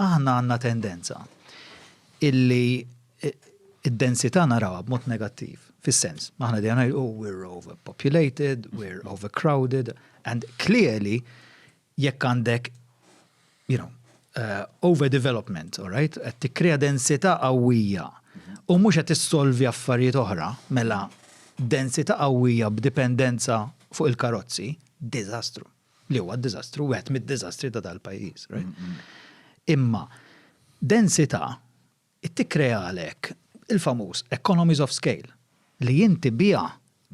Aħna għandna tendenza illi id-densità narawha b'mod negattiv, fis-sens, aħna dejjem ngħidu oh, we're overpopulated, we're overcrowded, and clearly jekk għandek, you know, uh, overdevelopment, all right, qed tikkrea densità qawwija u mhux qed issolvi affarijiet oħra, mela densità qawwija b'dipendenza fuq il-karozzi, diżastru. li huwa d-diżastru, wieħed mid-diżastri ta' dal-pajjiż. Imma densità tikkrea għalhekk il-famuż economies of scale li inti biha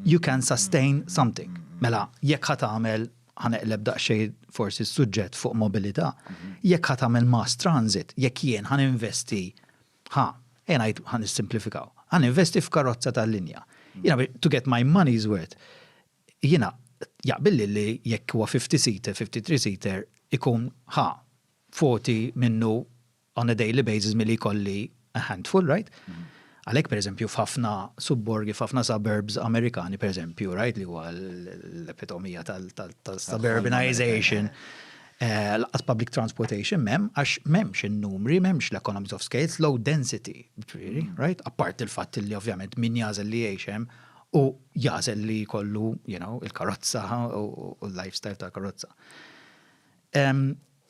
you can sustain something. Mela, jekk ħat għamel ħaneqleb daqxej forsi s-suġġett fuq mobilità, jekk ħat għamel mass transit, jekk jien ħan investi, ħa, jena jt ħan simplifikaw, ħan investi f'karozza tal-linja. Jena, to get my money's worth, Jiena jaqbilli li jekk huwa fifty seater, fifty three seater ikun ħa voti minnu on a daily basis milli jkolli a handful, right? Għalhekk pereżempju f'ħafna subborgi, f'ħafna suburbs Amerikani pereżempju, right, li huwa l-epitomija tal-suburbanization, lanqas public transportation m'hemm għax m'hemmx in-numri, m'hemmx l-economies of scale, low density, jiġifieri, right? Apparti l-fatt li ovvjament min jagħżel li jgħix hemm u jagħżel li jkollu you know, il-karozza u l-lifestyle tal-karozza.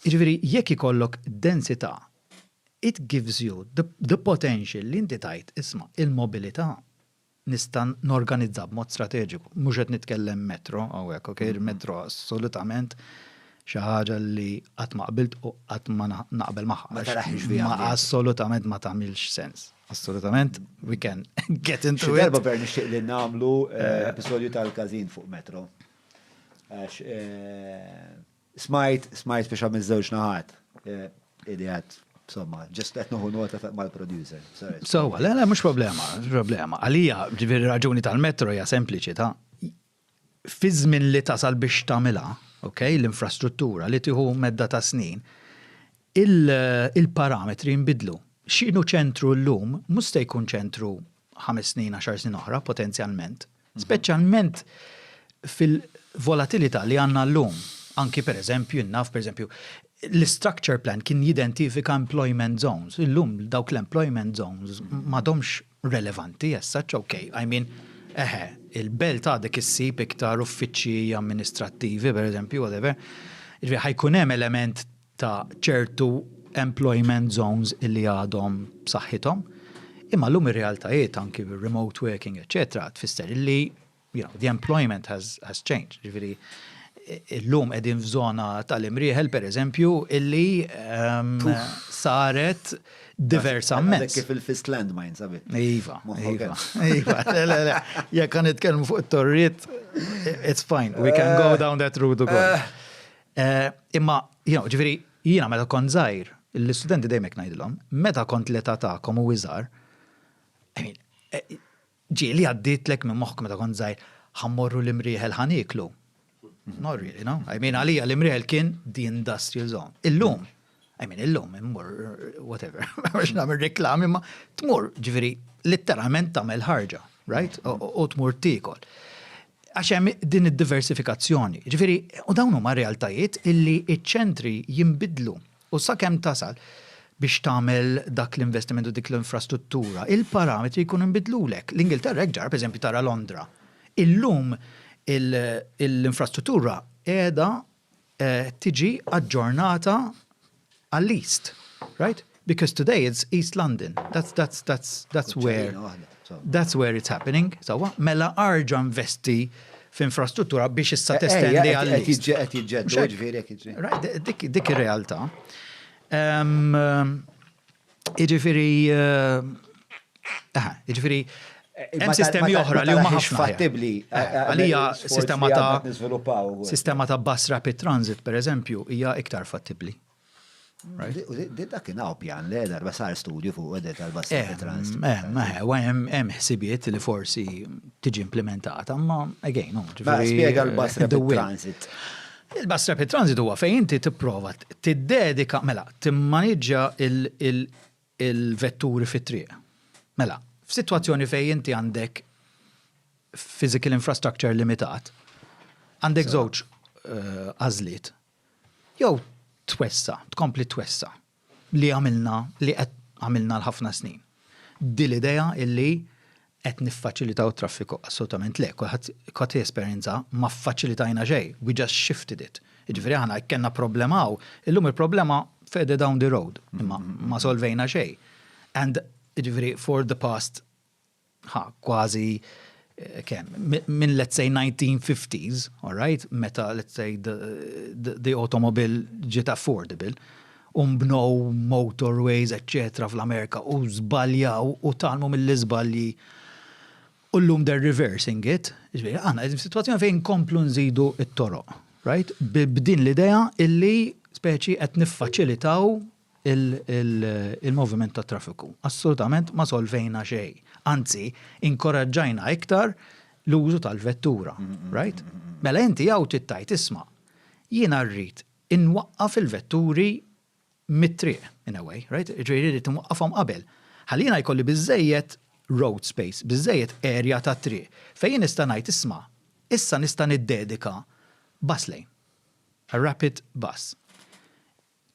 Jiġifieri jekk ikollok densità, it gives you the, the potential li inti tajt isma' il-mobilità nista' norganizza b'mod strateġiku. Mhux qed nitkellem metro hawnhekk, ok, mm-hmm. il-metro assolutament xi ħaġa li qatt ma qbilt u qatt ma naqbel magħha. Ma Assolutament ma tagħmilx sens. Assolutament, we can get into it. Xerba per nixtieq li namlu eh, eh. episodju tal-kazin fuq metro. Għax, eh, smajt, smajt biex għamil zewġ naħat. Ili għad, somma, ġest għet nuhu nota mal-producer. So, le, le, mux problema, mux problema. Għalija, ġivir raġuni tal-metro hija sempliċi ta' fiż-żmien li tasal biex tagħmilha, ok, l-infrastruttura li tieħu medda ta' snin, il-parametri jinbidlu. X'inhu ċentru llum mhux se jkun ċentru ħames snin, għaxar snin oħra, potenzjalment. Speċjalment fil-volatilità li għandna llum. Anki pereżempju, jien naf pereżempju, l-istructure plan kien jidentifika employment zones. Illum dawk l-employment zones m'għadhomx relevanti as such, ok, I mean, eħe, il-belt għadek issib iktar uffiċċji amministrattivi, per eżempju, whatever, ġifieri ħajkun hemm element ta' ċertu employment zones illi għadhom b'saħħithom, imma llum ir-realtajiet anki bir-remote working, eċċetera, tfisser illi you know, the employment has, has changed. Ġifiri, illum edin f'żona tal-imrieħel, per eżempju, illi um, saret diversament. Kif il-fist landmine, sabi? Iva, iva, iva. Jek kan itkellmu fuq it-torriet, it's fine, we can go eh. down that route u koll. Eh. Eh, imma, you know, ġifiri, jina meta kont zaħir, l-studenti dejmek najdilom, meta kont l-età ta'kom u iżar, I mean, Ġieli għaddietlek minn moħħok meta kont żgħir, ħa mmorru l-Imrieħel ħa nieklu? Not really, no? I mean, għalija l-Imrieħel kien the industrial zone. Illum, I mean, illum, immur, whatever, għax nagħmel reklami, ma tmur, ġifieri, litteralment tagħmel ħarġa, right? U tmur tikol. Għax hemm din id-diversifikazzjoni. Ġifieri, u dawn huma realtajiet illi iċ-ċentri jinbidlu. U sakemm tasal biex tagħmel dak l-investiment u dik l-infrastruttura, il-parametri jkunu nbidlulek. L-Ingilterra hekk ġara, pereżempju tara Londra. Illum l-infrastruttura qiegħda tiġi aġġornata għall-East, right? Because today it's East London. That's where. That's where it's happening, sewwa, mela arġa' investi f'infrastruttura biex issa testendi għal. Qed jiġġedded, jiġifieri qed jiġġedded. Dik ir-realtà. Jiġifieri, jiġifieri hemm sistemi oħra li huma ħafna. Fattibbli. Għalija sistema ta' sistema ta' bus rapid transit, pereżempju, hija iktar fattibbli. Didda kien għaw pjan li darba sar studju fuq għedda tal-bassi eh, trans. Eh, hemm ħsibiet li forsi tiġi implementata, ma again, ġifieri. Spiega l-bassi transit. Il-bassi rapid transit huwa fejn inti tipprova tiddedika, mela, timmaniġġa il-vetturi fit-triq. Mela, f'sitwazzjoni fejn inti għandek physical infrastructure limitat, għandek żewġ eh, għażliet. Uh, Jew twessa', tkompli twessa' li għamilna, li qed għamilna għal ħafna snin. Din l-idea illi qed niffaċilitaw it-traffiku, assolutament le, kulħadd qed jesperjenza ma ffaċilitajna xejn, we just shifted it. Jiġifieri aħna jekk kellna problema hawn, illum il-problema further down the road, imma ma solvejna xejn. And jiġifieri for the past ħa kważi kemm, minn let's say 1950s, all right, meta let's say the, the, the automobile ġiet affordable, umbnow motorways, etc. fl-Amerika u zbaljaw u talmu mill-izbalji u l-lum they're reversing it, ġviri, għana, għedin situazzjoni fejn komplu nżidu it-toroq, right? B'din l-idea illi speċi qed niffaċilitaw il-moviment tat-traffiku. Assolutament ma solvejna xejn. Anzi, inkoraġġajna iktar l-użu tal-vettura. Right? Mela inti hawn trid tgħid isma', jiena rrid inwaqqaf il-vetturi mit-triq in a way, right? Ġifieri rrid inwaqqafhom qabel. Ħalli jiena jkolli biżżejjed road space, biżżejjed erja tat-triq fejn jien nista' ngħid isma', issa nista' niddedika bus lane, a rapid bus.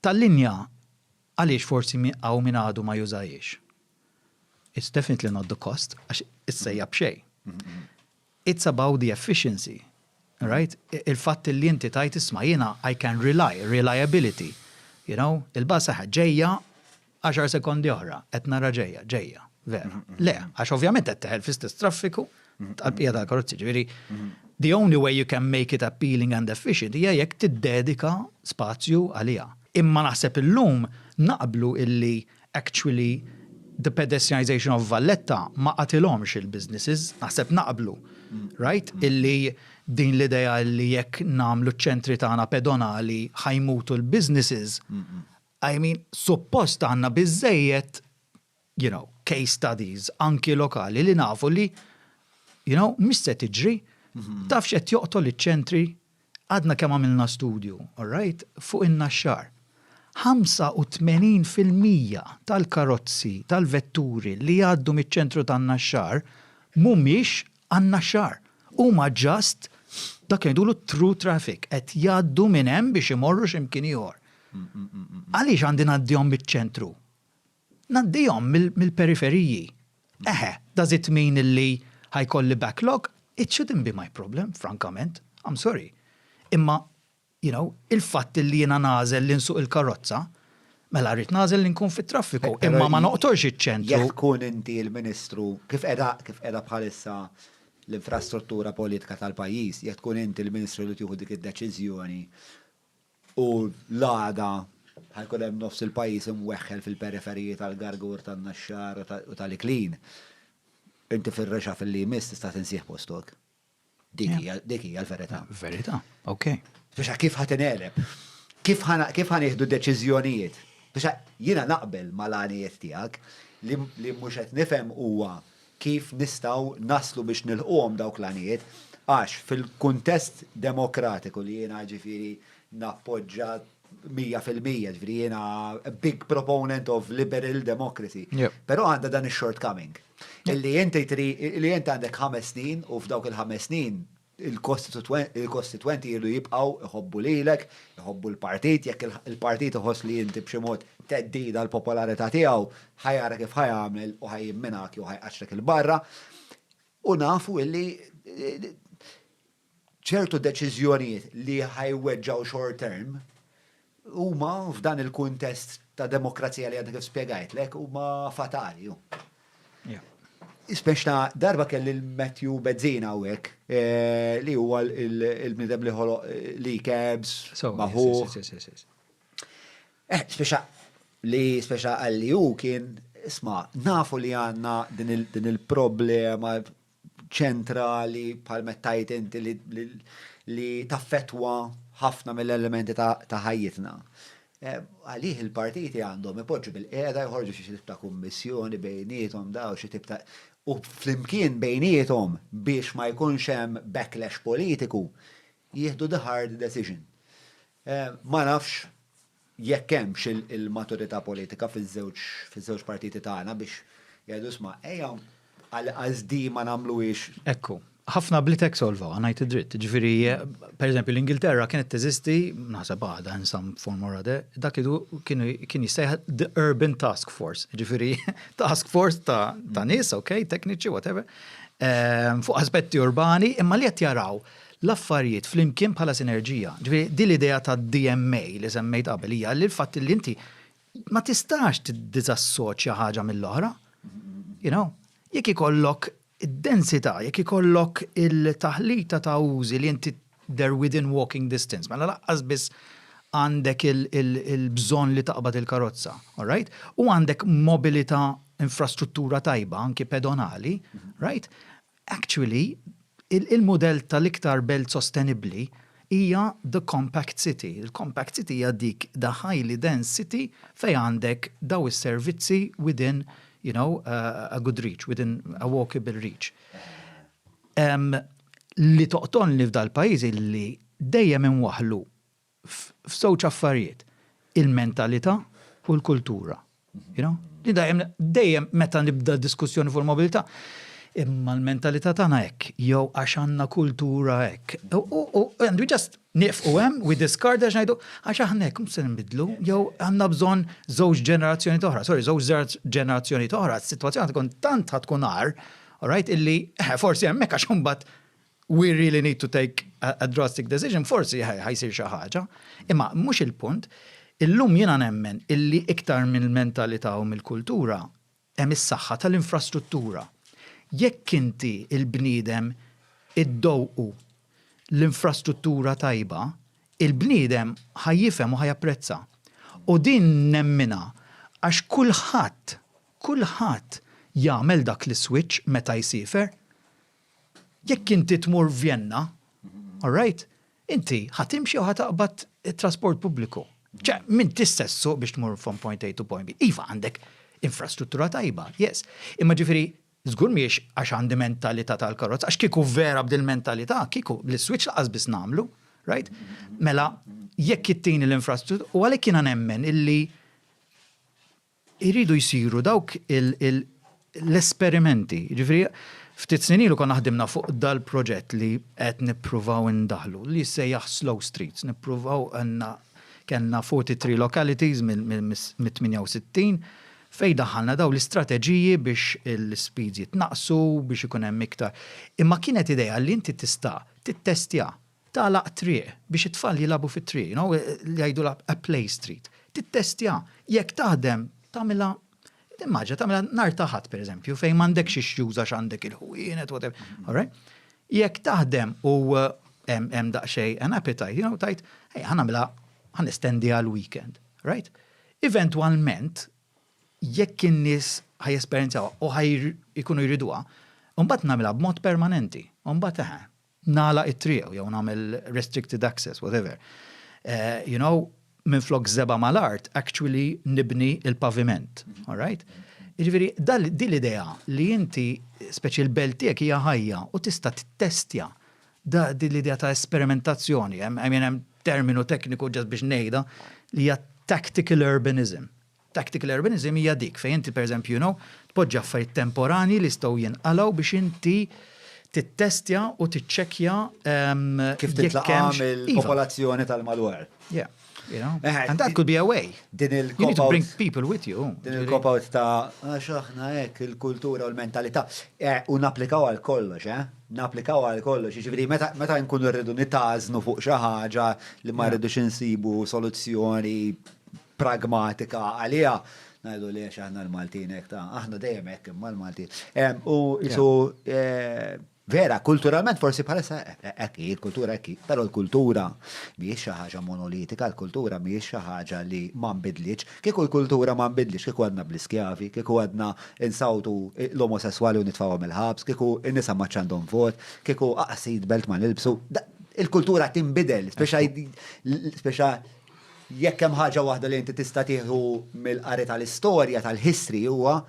Tal-linja għaliex forsi hawn min għadu ma jużahiex. It's definitely not the cost, għax issejjaħ b'xejn. It's about the efficiency, right? Il-fatt li inti tgħid isma' jiena I can rely, reliability, you know, il-bus aha ġejja, Għaxar sekondi oħra, qed nara ġejja, ġejja, vera. Le, għax ovvjament qed teħel fl-istess traffiku tal-bqija tal-karozzi. Ġifieri, the only way you can make it appealing and efficient hija jekk tiddedika spazju għaliha. Imma naħseb illum naqblu illi actually the pedestrianisation of Valletta ma qatilhomx il-businesses, naħseb naqblu, right? Illi din l-idea illi jekk nagħmlu ċ-ċentri tagħna pedonali ħa jmutu l-businesses, I mean, suppost għandna biżżejjed, you know, case studies, anki lokali, li nafu li, you know, mhix se tiġri, taf x'qed joqtol iċ-ċentri, għadna kemm għamilna studju, all right, fuq in-Naxxar. 85 fil-mija tal-karozzi, tal-vetturi li jgħaddu miċ-ċentru tan-Naxxar mhumiex Għan-Naxxar. Huma just dak li ngħidulu t-through traffic, qed jgħaddu minn hemm biex imorru xi mkien ieħor. Għaliex għandi ngħaddihom miċ-ċentru? Ngħaddihom mill-periferiji. Eħe, does it mean illi ħa jkolli backlog? It shouldn't be my problem, frankament. I'm sorry. Imma You know, il-fatt illi jiena nagħżel li nsuq il-karozza, mela rrid nagħżel li nkun fit-traffiku, imma ma noqtolx iċ-ċentru. Jekk tkun inti il-Ministru, kif qiegħda, kif qiegħda bħalissa l-infrastruttura politika tal-pajjiż, jekk tkun inti l-Ministru li tieħu dik id-deċiżjoni u l-għada ħa jkun hemm nofs il-pajjiż imweħħel fil-periferiji tal-Gargur, tan-Naxxar u tal-Iklin, inti fir-reshuffle li jmiss tista' tinsieħ postok. Dik hija l-verità. Verità, ok. Biex kif ħat ineleb? Kif ħan iħdu deċiżjonijiet? Biex jiena naqbel mal-għanijiet tiegħek li mhux qed nifhem huwa kif nistgħu naslu biex nilħquhom dawk l-għanijiet għax fil-kuntest demokratiku li jiena ġifieri nappoġġa mija fil-mija, ġviri jena big proponent of liberal democracy. Pero għanda dan il-shortcoming. Illi jenti tri, illi jenti għandek ħames snin u f'dawk il-ħames snin il-kostituenti jirdu jibqaw iħobbu lilek, iħobbu l-partit, jekk il-partit iħoss li jinti bximot teddida l-popolarita tijaw, ħajara kif ħajamel u ħajimminak u ħajqaxrek il-barra. U nafu illi ċertu deċiżjonijiet li ħa jweġġgħu short term huma f'dan il-kuntest ta' demokrazija li għadni kif spjegajtlek huma fatali. Ispex ta' darba kelli l-Matthew Bezzina hawnhekk eh, li huwa l-bnidem li ħoloq eh, li cabs, maħu. Eh, speċa li speċa għalli hu kien isma' nafu li għandna din il-problema ċentrali bħal mettajt inti li, li, li taffetwa ħafna mill-elementi ta', ta ħajjitna. Eh, għalih il-partiti għandhom ipoġġu bil-qeda jħorġu xi tip ta' kummissjoni bejnietom daw xi tip ta' u flimkien bejnietom biex ma jkunx hemm backlash politiku jieħdu the hard decision. Eh, ma nafx jekk hemmx il-maturità politika fiż-żewġ partiti tagħna biex jgħidu isma' ejja għalqas di ma nagħmluhiex. Ekku. Ħafna bliet hekk solvawha, ngħid id-dritt. Jiġifieri, pereżempju, l-Ingilterra kienet teżisti, naħseb għadha in some form or other, dak idu kien jissejjaħ the urban task force. Jiġifieri, task force ta' nies, okay, tekniċi, whatever, fuq aspetti urbani, imma li qed jaraw l-affarijiet flimkien bħala sinerġija. Ġifieri din l-idea tad-DMA li semmejt qabel hija li l-fatt li inti ma tistax tiddiżassoċja ħaġa mill-oħra. You know? Jekk ikollok id-densità, jekk ikollok il-taħlita ta' użi li inti they're within walking distance, mela laqqas biss għandek il-bżonn li taqbad il-karozza, all right? U għandek mobilità infrastruttura tajba, anki pedonali, right? Actually, il-mudell tal-iktar belt sostenibbli hija the compact city. Il-compact city hija dik the highly dense city fejn għandek dawn is-servizzi within, you know, a good reach, within a walkable reach. Li toqtolni f'dal-pajjiż hi li dejjem inwaħħlu f'żewġ affarijiet, il-mentalità u l-kultura. You know? Li dejjem, dejjem meta nibda diskussjoni fuq il-mobilità, imma l-mentalità tagħna hekk, jew għax għandna kultura hekk. U and we just nifqu hemm, we discard għax ngħidu, għax aħna hekk mhux se nbidlu, jew għandna bżonn żewġ ġenerazzjoni toħra, sorry, żewġ ġenerazzjoni toħra, s-sitwazzjoni tkun tant tkun għar, all right, illi eh, forsi hemmhekk għax imbagħad we really need to take a drastic decision, forsi ħajsir xi ħaġa, imma mhux il-punt. Illum jiena nemmen illi iktar mill-mentalità u mill-kultura hemm is-saħħa tal-infrastruttura. Jekk inti il-bniedem iddowqu l-infrastruttura tajba, il-bniedem ħa jifhem u ħa japprezza. U din nemminha għax kulħadd, kulħadd jagħmel dak l-iswitch meta jsiefer. Jekk inti tmur Vjenna, all right, inti ħa timxi jew ħa taqbad it-trasport pubbliku. Ċe, m'inti stess suq biex tmur from point A to point B. Iva għandek infrastruttura tajba, yes. Imma ġifieri żgur mhijiex għax għandi mentalità tal-karozza, għax kieku vera b'dil mentalità, kieku l-switch laqas biss nagħmlu, right? Mela jekk ittini l-infrastruttura, u għalhekk jiena nemmen illi Iridu jsiru dawk l-esperimenti. Jiġifieri ftit snin ilu konna ħdimna fuq dal-proġett li qed nippruvaw indaħħlu li jissejjaħ Slow Streets. Nippruvaw għandna kellna 43 localities mit-68 fejn daħħalna dawn l-istrateġiji biex l-ispiż jitnaqqsu, biex ikun hemm iktar. Imma kienet idea li inti tista' tittestja Tagħlaq triq biex it-tfal jilagħbu fit-triq, you know, li jgħidulha a play street. Tittestja jekk taħdem, tagħmilha, timmaġina, tagħmilha nhar ta' Ħadd pereżempju fejn m'għandekx ix-xjuż għax għandek il-ħwienet, whatever, all right? Jekk taħdem u hemm daqsxejn an appetite, you know, tgħid, ejja ħa nagħmilha, ħa nestendiha l-weekend, right? Eventwalment, jekk in-nies ħa jesperjenzawha u ħa jkunu jriduha, imbagħad nagħmilha b'mod permanenti, u mbagħad eħe, nagħlaq it-triq jew nagħmel restricted access, whatever. You know, minn flok zeba mal-art, actually nibni il-paviment. All right? Ġifiri, di l-idea li inti, speċi l-belt tiegħek hija ħajja u tista' tittestja da di l-idea ta' esperimentazzjoni, hemm terminu tekniku ġas biex ngħidha li hija tactical urbanism. Tactical urbanism hija dik fejn inti pereżempju you know tpoġġi affarijiet temporanji li jistgħu jinqalgħu biex inti tittestja u tiċċekkja Kif titlaqa' mill-popolazzjoni tal-madwar. Yeah. You know? And that could be a way. Din il-cop-out. You need to bring people with you. Din il-cop-out ta' għax aħna hekk il-kultura u l-mentalità. Eh, u napplikaw għal kollox, eh? Napplikaw għal kollox. Jiġifieri meta nkunu rridu nitażnu fuq xi ħaġa li ma rridux insibu soluzzjoni pragmatika għaliha, ngħidu li għax aħna l-Maltin hekk ta' aħna dejjem hekk imma l-Maltin. U isu Vera, kulturalment forsi bħalissa ekki, eh, eh, kultura ekki, pero l-kultura mhijiex xi ħaġa monolitika, l-kultura mhijiex xi ħaġa li ma nbidlitx. Kieku l-kultura ma nbidlitx, kieku għadna bl-iskjavi, kieku għadna insawtu eh, l-omosessuali u nitfawhom il-ħabs, kieku n-nisa ma ċandhom vot, kieku aqsid belt ma nilbsu. Il-kultura tinbidel, speċa Jekk hemm ħaġa waħda li inti tista' tieħu mill-qari tal-istorja tal-history huwa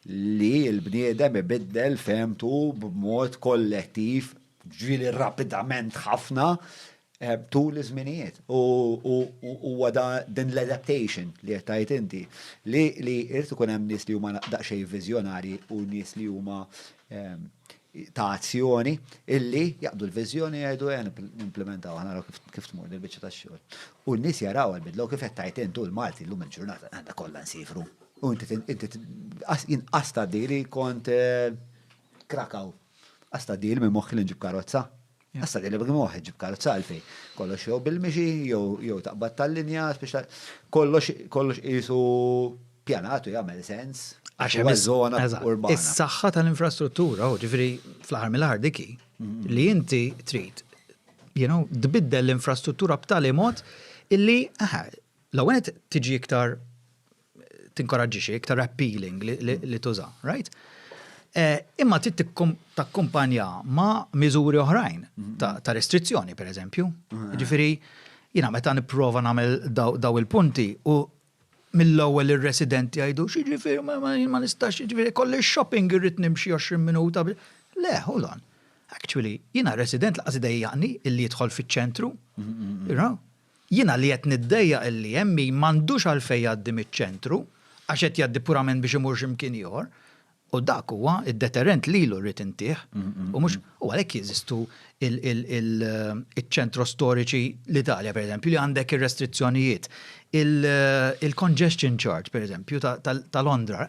li l-bniedem ibiddel fehmtu b'mod kollettiv, ġifieri rapidament ħafna, tul iż-żminijiet. U huwa din l-adaptation li qed tgħid inti li jrid ikun hemm nies li huma daqsxejn viżjonarji u nies li huma ta' azzjoni illi jaqbdu l-viżjoni jgħidu ejja nimplementaw aħna naraw kif tmur din biċċa tax-xogħol. U n-nies jaraw għall-bidla u kif qed tgħid int u l-Malti llum il-ġurnata għandha kollha nsifru. U inti jien qas tgħaddili kont eh, Krakow. Qas tgħaddili minn moħħi li nġib karozza. Issa li b'għin waħed ġib karozza għalfejn. Kollox jew bil-mixi, jew taqbad tal-linja, kollox qisu pjanat u jagħmel sens. Għax hemm iż-żona urbana. Is-saħħa tal-infrastruttura, ġifieri fl-aħħar mill-aħħar dik hi, li inti trid tbiddel l-infrastruttura b'tali mod illi l-ewwel tiġi iktar tinkoraġġixi, iktar appealing li tuża, right? Eh, imma trid takkumpanja ma' miżuri oħrajn mm-hmm. ta' restrizzjoni, per eżempju. Mm-hmm. Ġifieri, jiena meta nipprova nagħmel daw il-punti u mill-ewwel ir-residenti jgħidu x'jiġifieri ma nistax jiġifieri kolli shopping irrid nimxi 20 minuta. Le, hold on. Actually, jiena resident laqas idejjaqni illi jidħol fiċ-ċentru. Mm-hmm. Jiena li qed niddejjaq illi ME m'għandux għalfejn jgħaddi miċ-ċentru għax qed jgħaddi purament biex imur xi mkien ieħor, u dak huwa d-deterrent lilu rrid intih, u mhux, u għalhekk jeżistu iċ-ċentro storiċi, l-Italja pereżempju, li għandek ir-restrizzjonijiet. Il-congestion charge, pereżempju, ta' Londra,